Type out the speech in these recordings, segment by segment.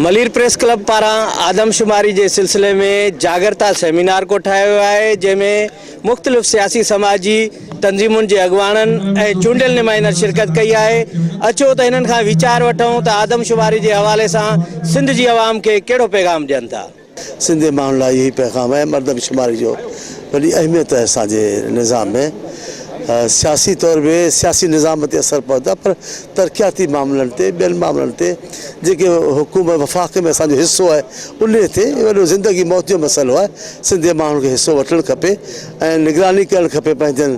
Malir press club پاران آدمشماري جي سلسلي ۾ جاگرتا سيمينار ڪوٺايو ويو آهي جنهن ۾ مختلف سياسي سماجي تنظيمن جي اڳواڻن ۽ چونڊيل نمائندن شرڪت ڪئي آهي اچو ته هنن کان ويچار وٺون ته آدمشماري جي حوالي سان سنڌ جي عوام کي ڪهڙو پيغام ڏين ٿا سنڌ جي ماڻهن لاء اهو ئي پيغام آهي مردم شماري جو وڏي اهميت آهي اسان جي نظام ۾ سياسي طور به سياسي نظام تي اثر پوندو آهي پر ترقياتي معاملن تي ٻين معاملن تي جيڪي حڪومت وفاق ۾ اسان جو حصو آهي ان تي وڏو زندگي موت جو مسئلو آهي سنڌ جي ماڻهن کي حصو وٺڻ کپي ۽ نگراني ڪرڻ کپي پنهنجن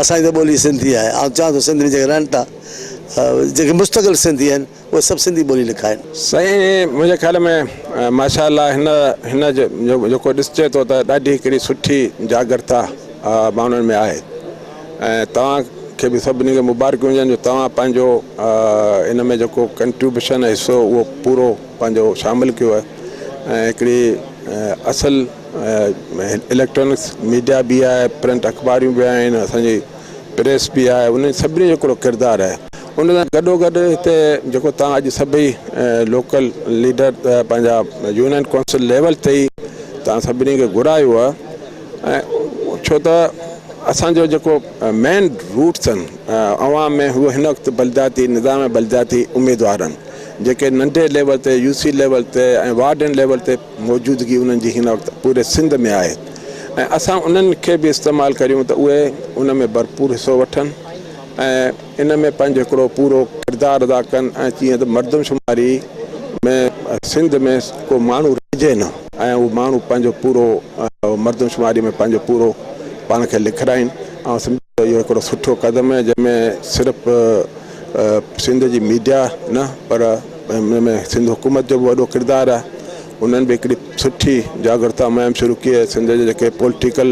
اسان جي ته ٻولي سنڌي آهي. آئون چاهيان ٿو سنڌ ۾ جيڪي رهن ٿا جيڪي مستقل سنڌي آهن اهي سڀ سنڌي ٻولي لکائن. سائين منهنجي خيال ۾ ماشاء الله هن هن جيڪو ڏسجي ٿو ته ڏاڍي هڪڙي سٺي جاڳرتا ماڻهن ۾ آهي ۽ توهان کي به سڀني کي مبارڪيون هجن جو توهان پنهنجو ان ۾ جيڪو ڪنٽريبيوشن حصو اهو پورو پنهنجو شامل ڪيو ۽ هڪڙي اصل اليڪٽرانڪس ميڊيا به آهي پرنٽ اخباريون به آهن اسانجي پريس به آهي انهن سڀني جو هڪڙو ڪردار آهي ان سان گڏو گڏ هتي جيڪو توهان اڄ سڀئي لوڪل ليڊر پنهنجا يونين ڪونسل ليول تي ئي توهان سڀني کي گهرايو آهي ۽ ڇو ته اسانجو جيڪو مين روٽس آهن عوام ۾ هو هن وقت بلدياتي نظام بلدياتي اميدوار آهن جيڪي ننڍي ليول تي يو سي ليول تي ۽ وارڊن ليول تي موجودگي انهن جي هن وقت پوري سنڌ ۾ آهي ۽ اسان انهن کي به استعمال ڪريون ته اهي ان ۾ ڀرپور حصو وٺن ۽ ان ۾ پنهنجو هڪڙو پورو ڪردار ادا ڪن ۽ جيئن ته مردمشماري ۾ سنڌ ۾ ڪو ماڻهو رهجي نه ۽ اهو ماڻهو پنهنجو پورو مردمشماري ۾ پنهنجو پورو پاڻ کي لکرائين آئون سمجهان ٿو اهو هڪڙو سٺو قدم آهي جنهن ۾ صرف سنڌ جي ميڊيا نه پر ان ۾ سنڌ حڪومت جو به وڏو ڪردار آهي انهن به هڪڙي سٺي جاگرتا مهم شروع ڪئي آهي سنڌ جي جيڪي پوليٽيڪل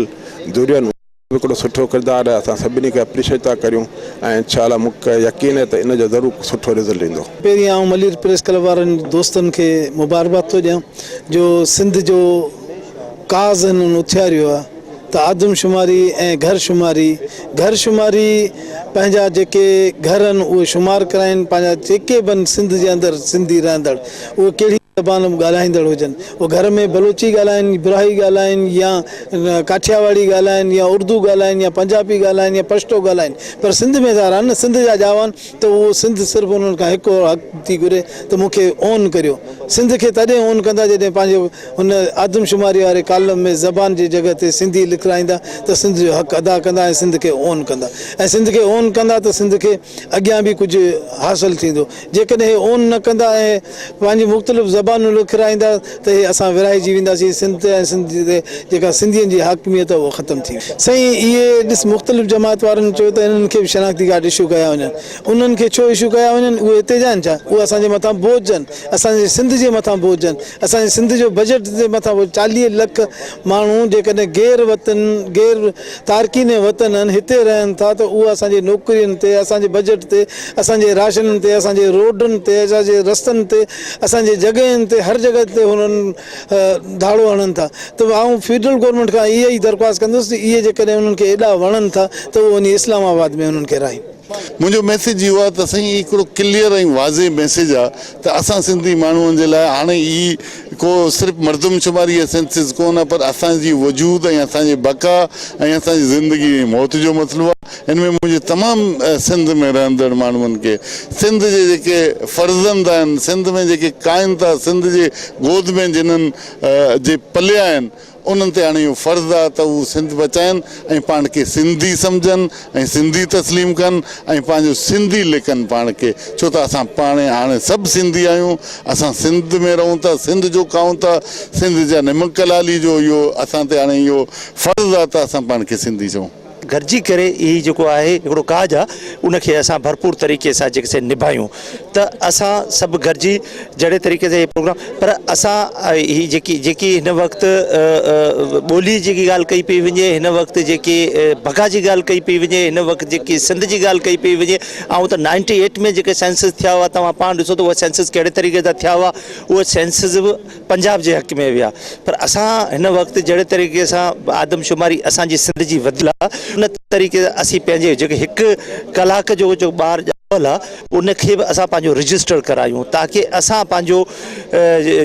ڌرين هڪڙو سٺو ڪردار آهي اسان سڀني کي اپريشيٽ ٿا ڪريون ۽ انشاء الله مون کي يقين آهي ته ان جو ضرور سٺو رزلٽ ايندو. پهرين آئون ملير پريس ڪلب وارن دوستن کي مبارڪباد ٿو ڏيان جو سنڌ جو ڪاز هنن اٿياريو آهي ته آدمشماري ۽ گهر شماري، گهر شماري پنهنجا جيڪي گهر آهن اهي شمار ڪرائين، پنهنجا جيڪي به آهن سنڌ جي اندر سنڌي رهندڙ اهي ڪهڙي به زبان ڳالهائيندڙ هجن اهي گهر ۾ بلوچي ڳالهائين، براهي ڳالهائين يا ڪاٺياواڙي ڳالهائين يا اردو ڳالهائين يا پنجابي ڳالهائين يا پشتو ڳالهائين پر سنڌ ۾ سارا آهن نه سنڌ جا ڄاوا آهن ته اهو سنڌ صرف انهن کان هڪ حق ٿي گهري ته مون کي اون ڪريو. سنڌ کي تڏهن اون ڪندا جڏهن پنهنجي هن آدمشماري واري ڪالم ۾ زبان جي جڳهه تي سنڌي لکرائيندا ته سنڌ جو حق ادا ڪندا ۽ سنڌ کي اون ڪندا ۽ سنڌ کي اون ڪندا ته سنڌ کي اڳيان به ڪجهه حاصل ٿيندو جيڪڏهن هي اون نه ڪندا ۽ پنهنجون مختلف زبانون لکرائيندا ته هي اسان ورهائجي وينداسين سنڌ تي ۽ سنڌ تي جيڪا سنڌين جي حاڪميت اها ختم ٿي ويندي. سائين اهي ڏس مختلف جماعت وارن چيو ته انهن کي به شناختي ڪارڊ اشو ڪيا وڃن. انهن کي ڇو اشو ڪيا وڃن اهي هتي جا آهن ڇا؟ اهي اسان جي مٿان بوجھ آهن. اسان جي سنڌ جي مٿان بوجھ آهن. اسان جي سنڌ جو بجيٽ جي مٿان بوجھ آهن. چاليهه لک ماڻهو جيڪڏهن غير وطن غير تارڪين وطن آهن، هتي رهن ٿا ته اهو اسان جي نوڪرين تي، اسان جي بجيٽ تي، اسان جي راشنن تي، اسان جي روڊن تي، اسان جي رستن تي، اسان جي جڳهين تي هر جڳهه تي هنن ڌاڙو هڻن ٿا ته آئون فيڊرل گورنمينٽ کان اها ئي درخواست ڪندس ته اهي جيڪڏهن انهن کي ايڏا وڻن ٿا ته اهو وڃي اسلام آباد ۾ انهن کي رهائين. منهنجو ميسيج اهو آهي ته سائين هي هڪڙو ڪليئر ۽ واضح ميسيج آهي ته اسان سنڌي ماڻهن جي لاء هاڻي ئي ڪو صرف مردمشماري يا سينسس ڪونه پر اسان جي وجود ۽ اسان جي بقا ۽ اسان جي زندگي ۽ موت جو مسئلو آهي. ان ۾ منهنجي تمام سنڌ ۾ رهندڙ ماڻهن کي سنڌ جي جيڪي فرزند آهن، سنڌ ۾ جيڪي ڪاهن ٿا، سنڌ جي گود ۾ جنن جي پليا آهن، انهن تي هاڻي اهو فرض آهي ته هو سنڌ بچائين ۽ پاڻ کي سنڌي سمجهن ۽ سنڌي تسليم ڪن ۽ پنهنجو سنڌي ليکن پاڻ کي ڇو ته اسان پاڻ هاڻي سڀ سنڌي آهيون اسان سنڌ ۾ رهون ٿا سنڌ جو کائون ٿا سنڌ جا نمڪ لالي جو اهو اسان تي هاڻي اهو فرض آهي ته اسان پاڻ کي سنڌي چئون. گڏجي ڪري هي جيڪو آهي هڪڙو ڪاڄ آ ان کي اسان ڀرپور طريقي سان جيڪي سي نڀايون ته اسان سڀ گڏجي جهڙي طريقي سان هي پروگرام پر اسان هي جيڪي جيڪي هن وقت ٻولي جي ڳالهه ڪئي پئي وڃي هن وقت جيڪي بگا جي ڳالهه ڪئي پئي وڃي هن وقت جيڪي سنڌ جي ڳالهه ڪئي پئي وڃي آئون ته نائنٽي ايٽ ۾ جيڪي سينسز ٿيا هئا توهان پاڻ ڏسو ته اهي سينسز ڪهڙي طريقي سان ٿيا هئا اهي سينسز پنجاب جي حق ۾ ويا پر اسان هن وقت جهڙي طريقي سان آدمشماري اسان جي سنڌ جي وڌل آ ان طريقي اسين پنهنجي جيڪي هڪ ڪلاڪ جو جو ٻار ڄاول آ ان کي به اسان پنهنجو رجسٽر ڪرايون تاڪي اسان پنهنجو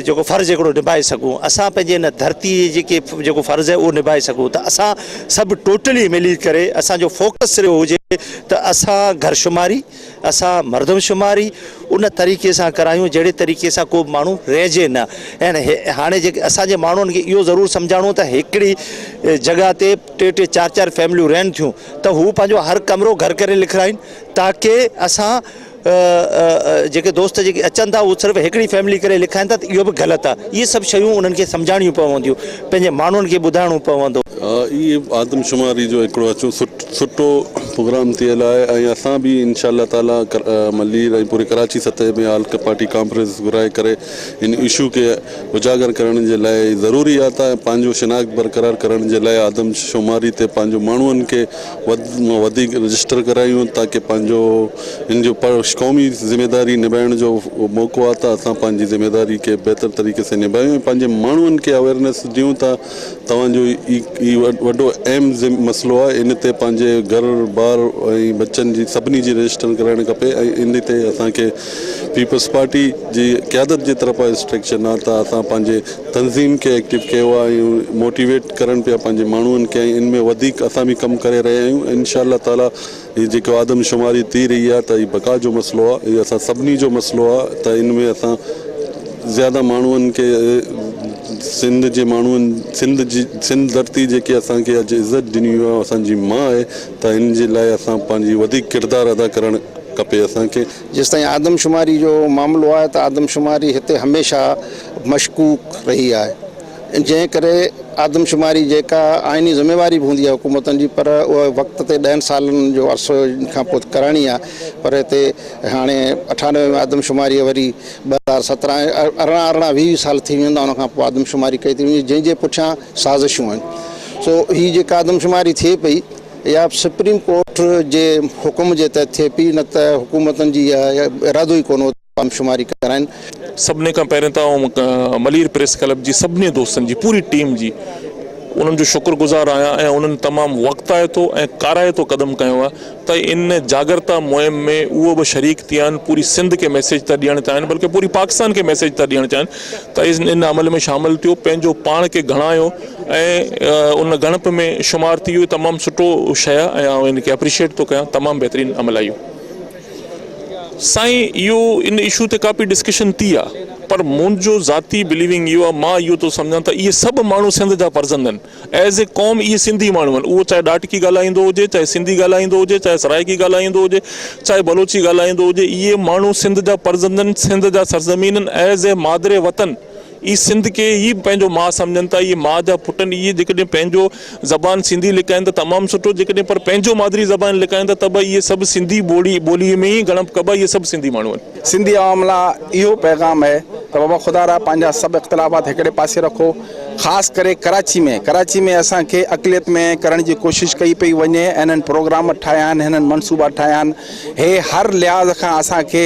جيڪو فرض هڪڙو نبائي سگهون اسان پنهنجي ان ڌرتي جي جيڪي جيڪو فرض آهي اهو نبائي سگهون ته اسان سڀ ٽوٽلي ملي ڪري اسان جو فوڪس صرف هجي ته اسان گهرشماري اسان مردمشماري ان طريقي سان ڪرايون جهڙي طريقي سان ڪو به ماڻهو رهجي نه ۽ هاڻي جيڪي اسان جي ماڻهن کي اهو ضرور سمجهاڻو ته هڪڙي جڳهه تي ٽي ٽي چار چار فيمليون رهن ٿيون ته هو پنهنجو هر ڪمرو گهر ڪري لکرائين تاڪه اسان جيڪي دوست جيڪي اچن ٿا اهو صرف هڪڙي فيملي ڪري لکائين ٿا ته اهو به غلط آهي اهي سڀ شيون انهن کي سمجهاڻيون پونديون پنهنجي ماڻهن کي ٻڌائڻو پوندو. اهي آدمشماري جو هڪڙو اچو سٽو پروگرام ٿيل آهي ۽ اسان به انشاء الله تعالي ملير ۽ پوري ڪراچي سطح ۾ آل پارٽي ڪانفرنس گهرائي ڪري ان اشو کي اجاگر ڪرڻ جي لاء ضروري آتا ۽ پنهنجو شناخت برقرار ڪرڻ جي لاء آدمشماري تي پنهنجو ماڻهن کي وڌ مان وڌيڪ رجسٽر ڪرايون تاڪه پنهنجو ان جو قومي ذميواري نڀائڻ جو موقعو آهي ته اسان پنهنجي ذميواري کي بهتر طريقي سان نڀايون ۽ پنهنجي ماڻهن کي اويرنس ڏيون ته توهان جو هي وڏو اهم مسئلو آهي ان تي پنهنجي گهر بار ۽ بچن جي سڀني جي رجسٽر ڪرائڻ کپي ۽ ان تي اسان کي پيپلز پارٽي جي قيادت جي طرفان اسٽرڪشن آهي ته اسان پنهنجي تنظيم کي ايڪٽو ڪيو آ ۽ موٽيويٽ ڪرن پيا پنهنجي ماڻهن کي ۽ ان ۾ وڌيڪ اسان به ڪم ڪري رهيا آهيون ۽ انشاء الله تعالي هي جيڪو آدم شماري ٿي رهي آ ته هي بقا جو مسئلو آ هي اسان سڀني جو مسئلو آ ته ان ۾ اسان زياده ماڻهن کي سنڌ جي ماڻهن سنڌ جي سنڌ ڌرتي جيڪي اسان کي اڄ عزت ڏني هئي اسان جي ما آهي ته ان جي لاء اسان پنهنجي وڌيڪ ڪردار ادا ڪرڻ کپي اسان کي جيستائين آدمشماري جو معاملو آهي ته آدمشماري هتي هميشه مشڪوڪ رهي آهي جنهن ڪري آدمشماري جيڪا آئيني ذميواري به هوندي آهي حڪومتن جي پر اها وقت تي ڏهن سالن جو عرصو کان پوء ڪرائڻي آهي پر هتي هاڻي اٺانوي ۾ آدمشماري وري ٻه هزار سترهن ارڙهن ارڙهن ويهه سال ٿي ويندا ان کان پوء آدمشماري ڪئي ٿي وڃي جنهن جي پٺيان سازشون آهن سو هي جيڪا آدمشماري ٿئي پئي اها به سپريم ڪورٽ جي حڪم جي تحت ٿئي پئي نه ته حڪومتن جي اها ارادو ئي ڪونه هو ته آدمشماري ڪرائين. سڀني کان پهرين ته آئون ملير پريس ڪلب جي سڀني دوستن جي پوري ٽيم جي انهن جو شڪر گذار آهيان ۽ انهن تمام وقتائتو ۽ ڪارائتو قدم کنيو آهي ته ان جاڳرتا مهم ۾ اهو به شريڪ ٿيا آهن پوري سنڌ کي ميسيج ٿا ڏيڻ چاهين بلڪه پوري پاڪستان کي ميسيج ٿا ڏيڻ چاهين تيز ان عمل ۾ شامل ٿيو پنهنجو پاڻ کي گهڻايو ۽ ان گهڻپ ۾ شمار ٿي اهو تمام سٺو شيء آهي ۽ آئون ان کي اپريشيٽ ٿو ڪيان تمام بهترين عمل آهي اهو. سائين اهو ان اشو تي ڪافي ڊسڪشن ٿي آهي پر منهنجو ذاتي بليونگ اهو آهي مان اهو ٿو سمجهان ته اهي سڀ ماڻهو سنڌ جا فرزند آهن ايز اي قوم اهي سنڌي ماڻهو آهن اهو چاهي ڏاٽڪي ڳالهائيندو هجي چاهي سنڌي ڳالهائيندو هجي چاهي سرائيڪي ڳالهائيندو هجي چاهي بلوچي ڳالهائيندو هجي اهي ماڻهو سنڌ جا پرزندن سنڌ جا سرزمينن ايز اي مادر وطن اهي سنڌ کي ئي پنهنجو ماء سمجهن ٿا اهي ماء جا پٽ اهي جيڪڏهن پنهنجو زبان سنڌي لڪائين ته تمام سٺو جيڪڏهن پر پنهنجو مادري زبان لڪائين ته ته به اهي سڀ سنڌي ٻولي ٻولي ۾ ئي ڳڻپ ڪبا اهي سڀ سنڌي ماڻهو آهن. سنڌي عوام لا اهو پيغام اهي ته بابا خدا را پنهنجا سڀ اختلافات هڪڙي پاسي رکو خاص ڪري ڪراچي ۾ ڪراچي ۾ اسان کي اقليت ۾ ڪرڻ جي ڪوشش ڪئي پئي وڃي هنن پروگرام ٺاهيا آهن هنن منصوبا ٺاهيا آهن هي هر لحاظ کان اسان کي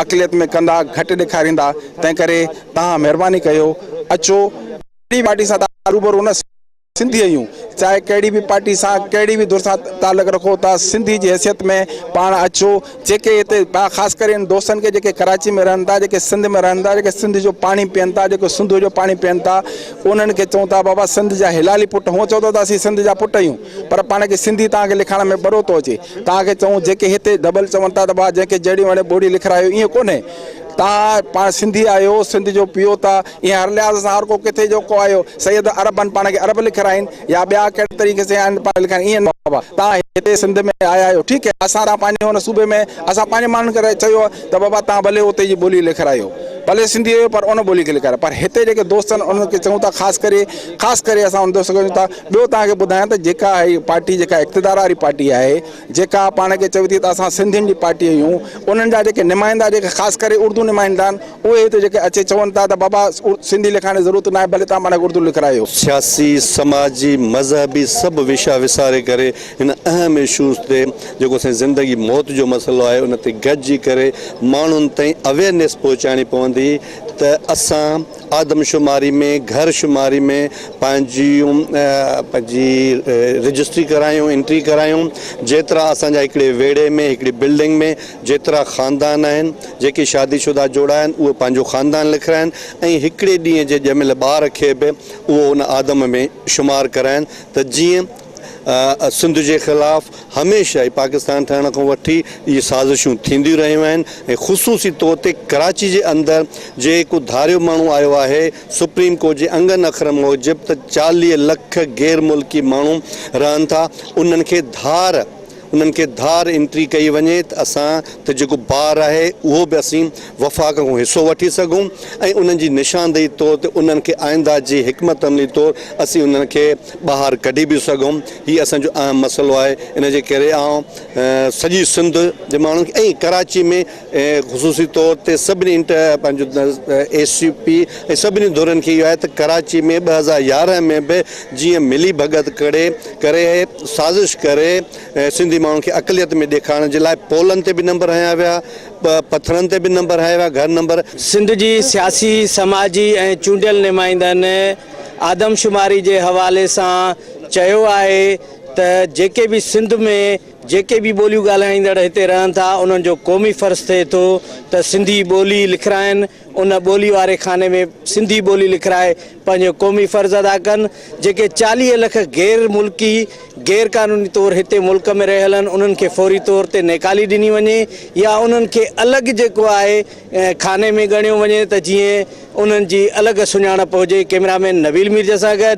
اقليت ۾ ڪندا گهٽ ڏيکاريندا تنهن ڪري تهان مهرباني ڪيو اچو پارٽي سان روبرو نه سنڌي اھيون چاھي ڪھڙي به پارٽي سان ڪھڙي به ڌر سان تعلق رکو ته سنڌي جي حيثيت ۾ پاڻ اچو جيڪي ھتي خاص ڪري ان دوستن کي جيڪي ڪراچي ۾ رھن ٿا جيڪي سنڌ ۾ رھن ٿا جيڪي سنڌ جو پاڻي پين ٿا جيڪو سنڌو جو پاڻي پين ٿا انھن کي چئون ٿا بابا سنڌ جا ھلالي پٽ ھون چئو ٿا ته اسين سنڌ جا پٽ اھيون پر پاڻ کي سنڌي تان کي لکڻ ۾ ٻرو ٿو اچي تان کي چئون جيڪي ھتي ڊبل چون ٿا ته بابا جيڪي جھڙي وڻي ٻوڙي لکرايو ايئن ڪونھي تان پاڻ سنڌي آھيو سنڌ جو پيو ٿا ايئن هر لحاظ سان هر ڪو ڪٿي جو ڪو آيو سيد عرب آهن پاڻ کي عرب لکرائين يا ٻيا ڪهڙي طريقي سين آهن پاڻ لکرائين ايئن نه بابا توهان هتي سنڌ ۾ آيا آهيو ٺيڪ هي اسان توهان پنهنجي هن صوبي ۾ اسان پنهنجي ماڻهن کي چيو ته بابا توهان ڀلي اتي جي ٻولي لکرايو ڀلي سنڌي هيو پر ان ٻولي کي لکرايو پر هتي جيڪي دوست آهن انهن کي چئون ٿا خاص ڪري خاص ڪري اسان ان دوست کي چئون ٿا ٻيو توهان کي ٻڌايان ته جيڪا هي پارٽي جيڪا اقتدار واري پارٽي آهي جيڪا پاڻ کي چوي ٿي ته اسان سنڌين جي پارٽي آهيون انهن جا جيڪي نمائندا جيڪي خاص ڪري اردو نمائندا آهن اهي هتي جيڪي اچي چون ٿا ته بابا سنڌي لکائڻ جي ضرورت ناهي ڀلي توهان پاڻ کي اردو لکرايو. سياسي، سماجي، مذهبي سڀ وشا وساري ڪري هن اهم اشوز تي جيڪو سائين زندگي موت جو مسئلو آهي ان تي گڏجي ڪري ماڻهن تائين اويئرنيس پهچائڻي پوندي ته اسان آدمشماري ۾ گهر شماري ۾ پنهنجيون پنهنجي رجسٽري ڪرايون انٽري ڪرايون جيترا اسان جا هڪڙي ويڙهي ۾ هڪڙي بلڊنگ ۾ جيترا خاندان آهن جيڪي شادي شده جوڙا آهن اهي پنهنجو خاندان لکرائن ۽ هڪڙي ڏينهن جي ڄميل ٻار کي به اهو ان آدم ۾ شمار ڪرائن ته جيئن سنڌ جي خلاف هميشه ئي پاڪستان ٺهڻ کان وٺي اهي سازشون ٿينديون رهيون آهن ۽ خصوصي طور تي ڪراچي جي اندر جيڪو ڌاريو ماڻهو آيو آهي سپريم ڪورٽ جي انگن اکرن موجب ته چاليهه لک غير ملڪي ماڻهو رهن ٿا انهن کي ڌار انهن کي ڌار انٽري ڪئي وڃي ته اسان تي جيڪو بار آهي اهو به اسين وفاق کان حصو وٺي سگهون ۽ انهن جي نشاندهي طور تي انهن کي آئنده جي حڪمت عملي طور اسين انهن کي ٻاهر ڪڍي به سگهون هي اسان جو اهم مسئلو آهي ان جي ڪري آئون سڄي سنڌ جي ماڻهن کي ۽ ڪراچي ۾ خصوصي طور تي سڀني انٽر پنهنجو اي سي پي ۽ سڀني ڌرين کي اهو آهي ته ڪراچي ۾ ٻه هزار يارهن ۾ به جيئن ملي ڀڳت ڪري ڪري سازش ڪري سنڌي ماڻهن کي اقليت ۾ ڏيکارڻ جي لاء پولن تي به نمبر هنيا ويا پٿرن تي به نمبر هنيا ويا گهر نمبر سنڌ جي سياسي سماجي ۽ چونڊيل نمائندن آدمشماري جي حوالي سان چيو آهي ته جيڪي به سنڌ ۾ جيڪي به ٻوليون ڳالهائيندڙ هتي رهن ٿا، انهن جو قومي فرض ٿئي ٿو ته سنڌي ٻولي لکرائن، ان ٻولي واري خاني ۾ سنڌي ٻولي لکرائي پنهنجو قومي فرض ادا ڪن. جيڪي چاليهه لک غير ملڪي غير قانوني طور هتي ملڪ ۾ رهيل آهن، انهن کي فوري طور تي نيڪالي ڏني وڃي يا انهن کي الڳ جيڪو آهي خاني ۾ ڳڻيو وڃي ته جيئن انهن جي الڳ سڃاڻپ هجي. ڪئميرامين نويل ميرزا سان گڏ